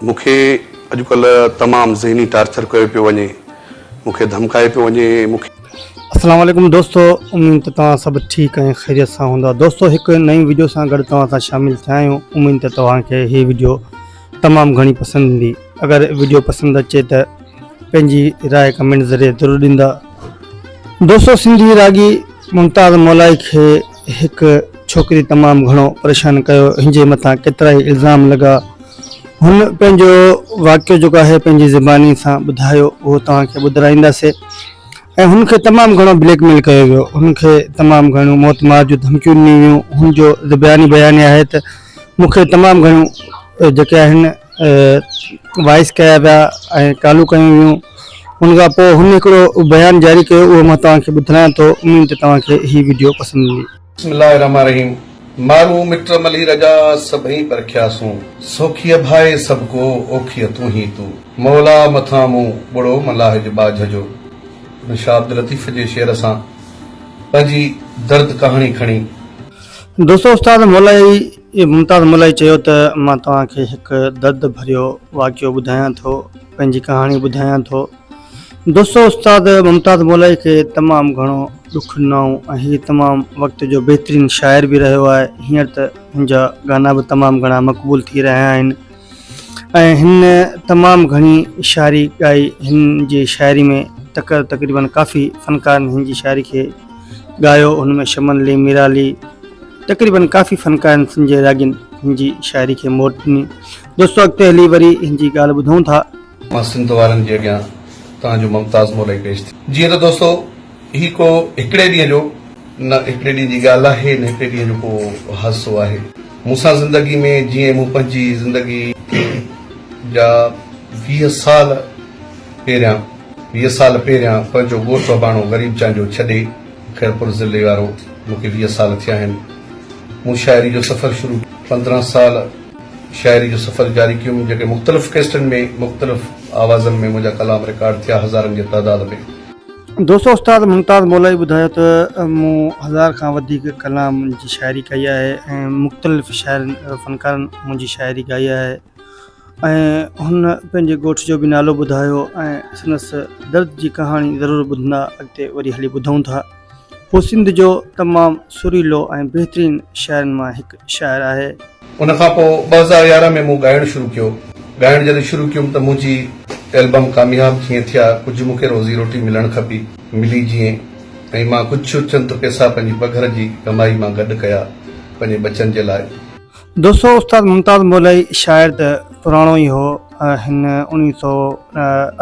مون کي اڄ ڪلهه تمام ذهني ٽارچر ڪيو پيو وڃي مون کي ڌمڪايو پيو وڃي مون کي. السلام عليڪم دوستو اميد ته توهان سڀ ٺيڪ ۽ خيريت سان هوندا دوستو هڪ نئين وڊيو سان گڏ توهان سان شامل ٿيا آهيون اميد ته توهان کي هي وڊيو تمام گهڻي پسند ايندي اگر وڊيو پسند اچي ته پنهنجي راء ڪمينٽ ذريعي ضرور ڏيندا دوستو سنڌي راڳي ممتاز مولائي کي هڪ ڇوڪري تمام گهڻو پريشان ڪيو، هن جي مٿان ڪيترائي الزام لڳا، هن پنهنجو واقعو جيڪو آهي پنهنجي زباني سان ٻڌايو اهو توهان کي ٻڌرائينداسي ۽ هن کي تمام گهڻو بليڪ ميل ڪيو ويو، هن کي تمام گهڻيون موت مار جون ڌمڪيون ڏنيون ويون، هن جو زباني بيان آهي ته مون کي تمام گهڻيون جيڪي آهن. وائس ڪيا ويا ۽ ڪالون ڪيون ويون ان کان پوء هن هڪڙو بيان جاري ڪيو اهو مان توهان کي ٻڌرايان ٿو اميد ته توهان کي هي وڊيو پسند ايندي. بسم الله الرحمٰن الرحيم مارون مٽ ملهي رجا سڀئي پرکيا سون سوکيء ڀائي سڀ ڪو اوکيء تون هي تو مولا مٿان مون ٻڙو ملاح جي ٻاجهه جو هن شاهه عبداللطيف جي شعر سان پنهنجي درد ڪهاڻي کڻي دوستو استاد مولائي اي ممتاز ملائي چيو ته مان توهان کي هڪ درد ڀريو واقعو ٻڌايان ٿو، پنهنجي ڪهاڻي ٻڌايان ٿو. دوستو استاد ممتاز مولائي کي تمام گهڻو ڏک ڏنائون ۽ هي تمام وقت جو بهترين شاعر به رهيو آهي، هينئر ته هن جا گانا به تمام گهڻا مقبول ٿي رهيا آهن. ۽ هن تمام گهڻي شاعري ڳائي. هن جي شاعري ۾ تڪر تقريبن ڪافي فنڪارن هن جي شاعري کي ڳايو. ان ۾ شمن علي، ميرا علي تقريبن ڪافي فنڪارن سنڌ جي راڳين هن جي شاعري کي موٽ ڏني. دوستو اڳتي هلي وري هن جي ڳالهه ٻڌون ٿا. مان سنڌ وارن جي اڳيان توهان جو ممتاز مولائي پيش ٿي. جيئن ته دوستو! هي ڪو هڪڙي ڏينهن جو نه هڪڙي ڏينهن جي ڳالهه آهي نه هڪڙي ڏينهن جو ڪو حادثو آهي مون سان زندگي ۾ جيئن مون پنهنجي زندگي جا ويهه سال پهريان ويهه سال پهريان پنهنجو ڳوٺ وباڻو غريب چانڊيو ڇڏي خيرپور ضلعي وارو مون کي ويهه سال ٿيا آهن مون شاعري جو سفر شروع پندرهن سال شاعري جو سفر جاري ڪيم جيڪي مختلف ڪيسٽن ۾ مختلف آوازن ۾ منهنجا ڪلام رڪارڊ ٿيا هزارن جي تعداد ۾ دوستو استاد ممتاز مولائي ٻڌايو ته مون هزار کان وڌيڪ ڪلام جي شاعري ڪئي آهي ۽ مختلف شاعرن فنڪارن منهنجي شاعري ڳائي آهي ۽ هن پنهنجي ڳوٺ جو به نالو ٻڌايو ۽ سندس درد جي ڪهاڻي ضرور ٻڌندا اڳتي وري هلي ٻڌون ٿا هو سنڌ جو تمام سريلو ۽ بهترين شاعرن مان هڪ شاعر آهي ان کان پوء ٻه هزار يارهن ۾ مون ڳائڻ شروع ڪيو. ڳائڻ جڏهن شروع ڪيم ته منهنجي ايلبم ڪامياب جيئن ٿي ها ڪجهه مون کي روزي روٽي ملڻ کپي، ملي جيئن ۽ مان ڪجهه چند پيسا پنهنجي پگهر جي ڪمائي مان گڏ ڪيا پنهنجي ٻچن جي لاء. دوستو استاد ممتاز مولائي شاعر ته پراڻو ئي هو ۽ هن اڻويهه سؤ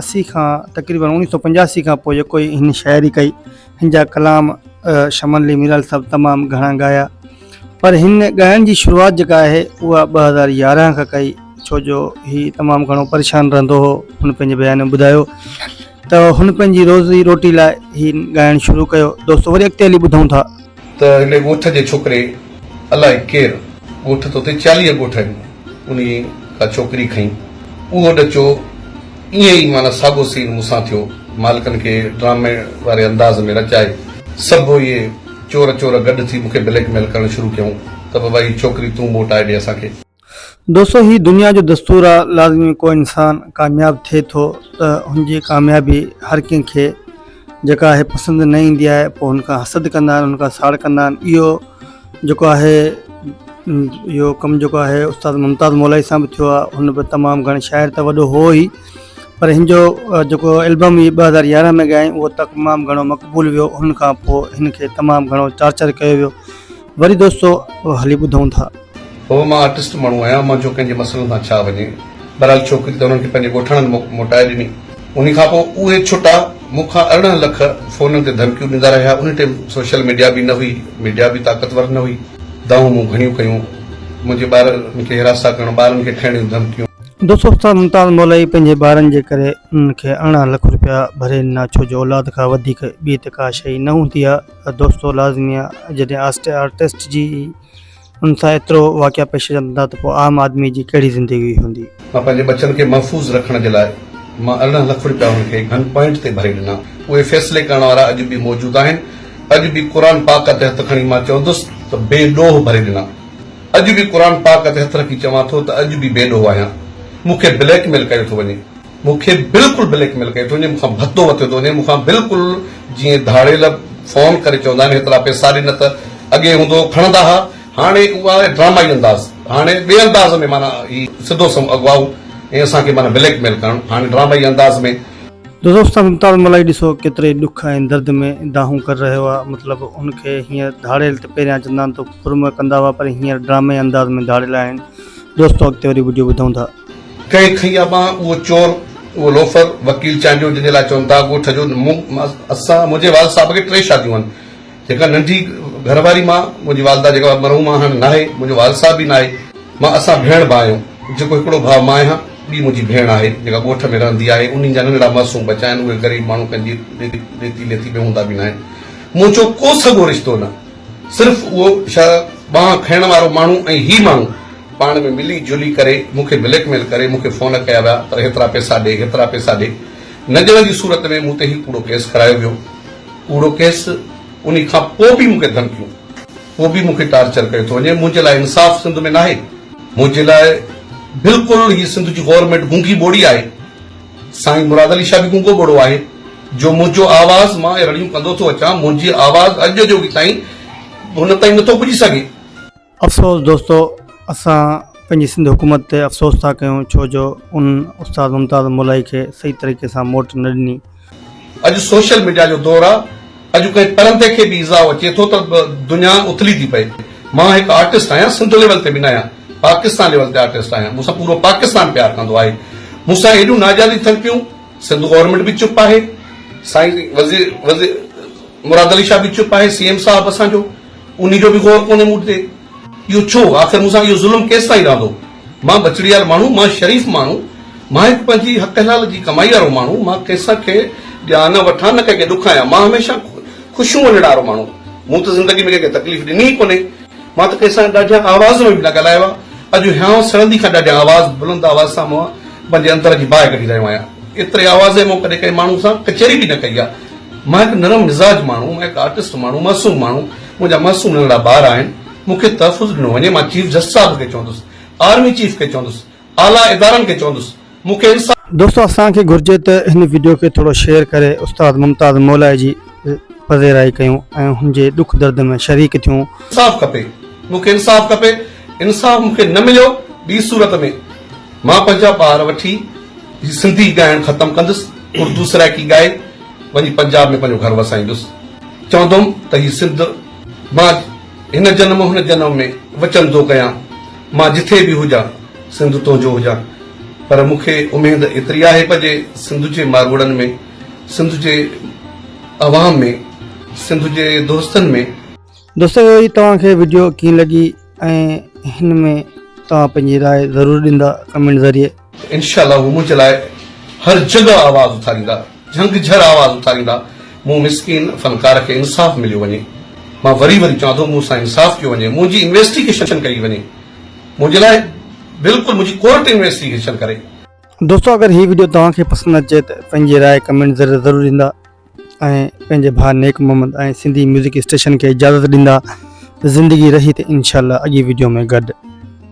اسي کان تقريبن اڻويهه سؤ پنجاسي کان پوء جيڪو ئي هن شاعري ڪئي هن جا ڪلام شمن علي ميرال صاحب تمام گهڻا ڳايا پر هن ڳائڻ جي شروعات جيڪا آهي اها ٻه هزار يارهن کان ڪئي ڇو جو هي تمام گهڻو پريشان رهندو هو هن پنهنجي بيان ۾ ٻڌايو ته هن پنهنجي روزي روٽي لاء هي ڳائڻ شروع ڪيو دوستو وري اڳتي هلي ٻڌون ٿا. ته هن ڳوٺ جي ڇوڪري الائي ڪير ڳوٺ ته اتي چاليهه ڳوٺ آهن. انهيء ڪا چوڪري کنئين. اهو ڏچو ائين ئي معنيٰ ساڳو سين مون سان ٿيو. مالڪن کي ڊرامي واري انداز ۾ رچائي، سڀ اهي چور چور گڏ ٿي مون کي بليڪ ميل ڪرڻ شروع ڪيائون ته بابا هي ڇوڪري تون موٽائي ڏي اسان کي. دوستو هي دنيا جو دستور آ، لازمي ڪو انسان ڪامياب ٿئي ٿو ته هن جي ڪاميابي هر ڪنهن کي. جيڪا آهي پسند نه ايندي آهي پوء هن کان حسد ڪندا آهن هن کان ساڙ ڪندا آهن اهو جيڪو آهي اهو ڪم جيڪو آهي استاد ممتاز مولائي سان به ٿيو آهي هن به تمام گهڻي شاعر ته وڏو هو ئي پر هن جو جيڪو البم هي ٻه هزار يارهن ۾ ڳايائين اهو تمام گهڻو مقبول ويو هن کان پوء هن کي تمام گهڻو چارچر ڪيو ويو وري دوستو هلي ٻڌون ٿا. هو مان آرٽسٽ ماڻهو آهيان مان جو ڪنهن جي مسئلن سان ڇا وڃي بهرحال ڇوڪري ته انهن کي پنهنجي ڳوٺاڻن مون موٽائي ڏني انهي کان پوء اهي ڇٽا مون کان ارڙهن لک فونن تي ڌمڪيون ڏيندا رهيا انهي ٽيم سوشل ميڊيا به نه هئي ميڊيا به طاقتور نه هئي دانهون مون گهڻيون ڪيون منهنجي ٻارن کي هراسا ڪرڻ ٻارن کي کڻڻيون ڌمڪيون. دوستو استاد ممتاز مولائي پنهنجي ٻارن جي ڪري انهن کي ارڙهن لک روپيا ڀري ڏنا ڇو جو اولاد کان وڌيڪ ٻي ته ڪا شئي نه هوندي آهي. دوستو لازمي آ جڏهن آسٽي آرٽسٽ جي ان سان ايترو واقعا پيش اچن ٿا ته پوء عام آدمي جي ڪهڙي زندگي هوندي. مان پنهنجي ٻچن کي محفوظ رکڻ جي لاء مان ارڙهن لک رپيا انهن کي گن پوائنٽ تي ڀري ڏنا. اهي فيصلي ڪرڻ وارا اڄ به موجود آهن. اڄ به قرآن پاڪ تي هٿ کڻي مان چوندس ته بي ڏوهه ڀري ڏنا. اڄ به قرآن پاڪ تي هٿ رکي چوان ٿو ته اڄ به بي ڏوهه آهيان. مون کي بليڪ ميل ڪيو ٿو وڃي. مون کي بلڪل بليڪ ميل ڪيو اٿو جي مون کان ڀتو وتيو ٿو وڃي مون کان بلڪل جيئن ڌاڙيل فون ڪري چوندا آهن هيترا پيسا ڏي نه ته اڳي هوندو هو کڻندا ها هاڻي اها آهي ڊرامائي انداز هاڻي ٻئي انداز ۾ معنيٰ هي سڌو سنئون اغوائو ۽ اسان کي معنيٰ بليڪ ميل ڪرڻ هاڻي ڊرامائي انداز ۾ دوزوستان ممتاز ملائي ڏسو ڪيتري ڏک ۽ درد ۾ دانهون ڪري رهيو آهي مطلب هن کي هينئر ڌاڙيل ته پهريان چندان تو پرمه ڪندا هئا پر هينئر ڊرامائي انداز ۾ ڌاڙيل آهن دوستو اڳتي وري وڊيو ٻڌون ٿا. ڪنهن کنئي آ ٻانهن اهو چور اهو لوفر وڪيل چانڊيو جنهن جي لاء چون ٿا ڳوٺ جو مون اسان منهنجي والد صاحب کي ٽي شاديون آهن جيڪا ننڍي گهر واري مان منهنجي والده جيڪا مرحومه آ هاڻ ناهي منهنجو والد صاحب به ناهي مان اسان ڀيڻ ڀاء آهيون جيڪو هڪڙو ڀاء مان آهيان ٻي منهنجي ڀيڻ آهي جيڪا ڳوٺ ۾ رهندي آهي انهن جا ننڍڙا معصوم ٻچا آهن اهي غريب ماڻهو ڪنهن جي ڏيتي ليتي ۾ هوندا به ناهن منهنجو ڪو سڳو رشتو نه صرف اهو ڇهه ٻانهن کڻڻ وارو ماڻهو ۽ هي ماڻهو پاڻ ۾ ملي جلي ڪري مون کي بليڪ ميل ڪري مون کي فون ڪيا ويا پر هيترا پئسا ڏي هيترا پئسا ڏي نه ڏيڻ جي صورت ۾ مون تي هي ڪوڙو ڪيس ڪرايو ويو ڪوڙو ڪيس انهي کان پوء به مون کي ڌمڪيون پوء به مون کي ٽارچر ڪيو ٿو وڃي منهنجي لاء انصاف سنڌ ۾ ناهي منهنجي لاء بلڪل هي سنڌ جي گورنمينٽ گونگي ٻوڙي آهي. سائين مراد علي شاهه به گونگو ٻوڙو آهي جو منهنجو آواز مان رڙيون ڪندو ٿو اچان منهنجي آواز اڄ جو به تائين هن تائين نٿو پڄي سگهي. افسوس دوستو اسان پنهنجي سنڌ حڪومت تي افسوس ٿا ڪيون ڇو جو ان استاد ممتاز مولائي کي صحيح طريقي سان موٽ نه ڏني. اڄ سوشل ميڊيا جو دور آ. اڄ ڪنهن پرندي کي به ايذاء اچي ٿو ته دنيا اٿلي ٿي پئي. مان هڪ آرٽسٽ آهيان، سنڌ ليول تي به ناهيان، پاڪستان ليول تي آرٽسٽ آهيان، مون سان پورو پاڪستان پيار ڪندو آهي، مون سان هيڏيون ناجائزيون ٿين پيون، سنڌ گورنمينٽ به چپ آهي، سائين وزير مراد علي شاهه به چپ آهي، سي ايم صاحب اسان جو. انهي جو به غور ڪونهي مون تي. اهو ڇو؟ آخر مون سان اهو ظلم ڪيستائين رهندو؟ مان بچڙي وارو ماڻهو، مان شريف ماڻهو، مان هڪ پنهنجي حق حلال جي ڪمائي وارو ماڻهو، مان ڪنهن کي ڏيان نه وٺان، نه ڪنهن کي ڏکايان، مان هميشه خوشيون وڃڻ وارو ماڻهو، مون ته زندگي ۾ ڪنهن کي تڪليف ڏني ئي ڪونهي. مان ته ڪنهن سان ڏاڍيان آواز ۾ به نه ڳالهايو آهي. اڄ هيانء سڙندي کان ڏاڍيان آواز، بلند آواز سان مان پنهنجي اندر جي باهه ڪڍي رهيو آهيان. ايتري آوازين مون ڪڏهن ڪنهن ماڻهو سان ڪچهري به نه ڪئي آهي. مان هڪ نرم مزاج ماڻهو، مان هڪ آرٽسٽ ماڻهو، معصوم ماڻهو، منهنجا معصوم ننڍڙا ٻار آهن، مون کي تحفظ ڏنو وڃي، مان چيف جسٽس صاحب کي چوندس، آرمي چيف کي چوندس، اعليٰ ادارن کي چوندس، مون کي انصاف. دوستو اسان کي گهرجي ته هن وڊيو کي ٿورو شيئر ڪري استاد ممتاز مولائي جي پذيرائي ڪيون ۽ هن جي ڏک درد ۾ شريڪ ٿيون. انصاف کپي مون کي انصاف کپي انصاف مون کي نه مليو ٻي صورت ۾ مان پنهنجا ٻار وٺي هي سنڌي ڳائڻ ختم ڪندس، اردو سرائڪي ڳائي وڃي پنجاب ۾ پنهنجو گهر وسائيندس. چوندم ته هي سنڌ مان هن جنم هن جنم ۾ وچن ٿو ڪيان، مان جٿي به هجان سنڌ تنهنجو هجان. پر مون کي اميد ايتري آهي پنهنجي سنڌ جي ماروئڙن ۾، سنڌ جي عوام ۾، سنڌ جي دوستن ۾. دوستو هي توهان کي وڊيو ڪيئن لڳي. ۽ هن ۾ توهان پنهنجي راء ضرور ڏيندا ڪمينٽ ذريعي. انشاء الله هو منهنجي لاء هر جڳهه آواز اٿاريندا جهنگ جهر آواز اٿاريندا مون مسڪين فنڪار کي انصاف مليو وڃي مان وري وري چوان ٿو مون سان انصاف ڪيو وڃي منهنجي انويسٽيگيشن ڪئي وڃي منهنجي لاء بلڪل منهنجي ڪورٽ انويسٽيگيشن ڪري. دوستو اگر هي وڊيو توهان کي پسند اچي ته پنهنجي راء ڪمينٽ ذريعي ضرور ڏيندا. ۽ پنهنجي ڀاء نيڪ محمد ۽ سنڌي ميوزڪ اسٽيشن کي اجازت ڏيندا ته زندگي رهي ته انشاء الله اڳي وڊيو ۾ گڏ.